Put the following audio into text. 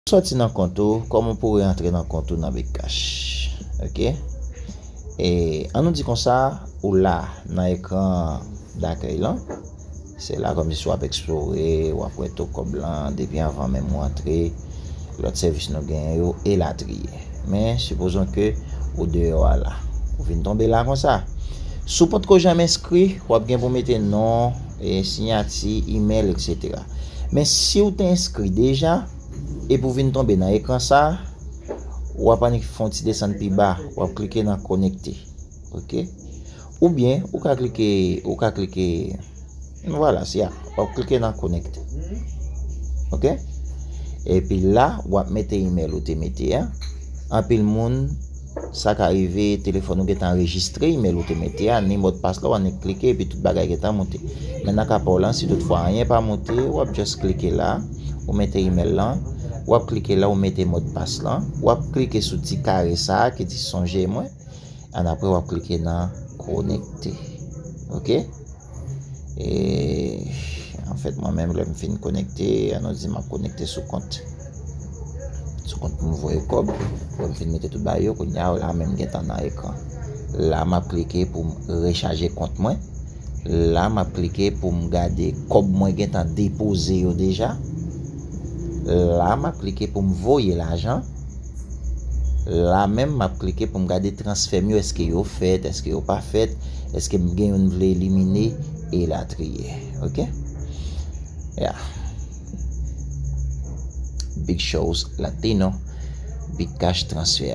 Soti nan kont ou koman pou reantre nan kont ou nan bitcash ok e an nou di konsa ou la nan ekran dakèy lan se la komsi wap eksplore wap wè to kob lan depi anvan menm ou antre lot sèvis nou genyen yo elatriye men sipozon ke ou deyò a la ou vin tonbe la konsa si w potko janm enskri wap gen pou mete non siyati, email etc. Men siw te enskri deja epi ou vin tonbe nan ekran sa, wap annik fon ti desann pi ba, wap klike nan konekte ok oubyen ou ka klike ou ka klike vwala se a wap klike nan konekte ok epi la wap mete email ou te mete a anpil moun Sa ka rive telefòn ou gentan anrejistre imèl ou te mete a, ni modpas la, ou annik klike epi tout bagay gentan moute. Men nan ka pa w lan, si tout fwa anyen pa moute, w ap just klike la, ou mete imèl lan, w ap klike la, ou mete modpas lan, w ap klike sou ti kare sa a ki di sonje mwen, annapre w ap klike nan konekte. Ok. En fèt mwen menm lè m fin konekte, an nou di m ap konekte sou kont sou kont pou m voye kòb, lè m fin mete tout bagay yo, kounya w la menm m gentan nan ekran. La m ap klike pou m rechaje kont mwen, la m ap klike pou m gade kòb mwen gentan depoze yo deja, la m ap klike pou m voye lajan. La menm map klike pou m gade transfè m yo eske yo fèt eske yo pa fèt eske m gen youn m vle elimine e latriye ok ya big shows latino big cash transfè.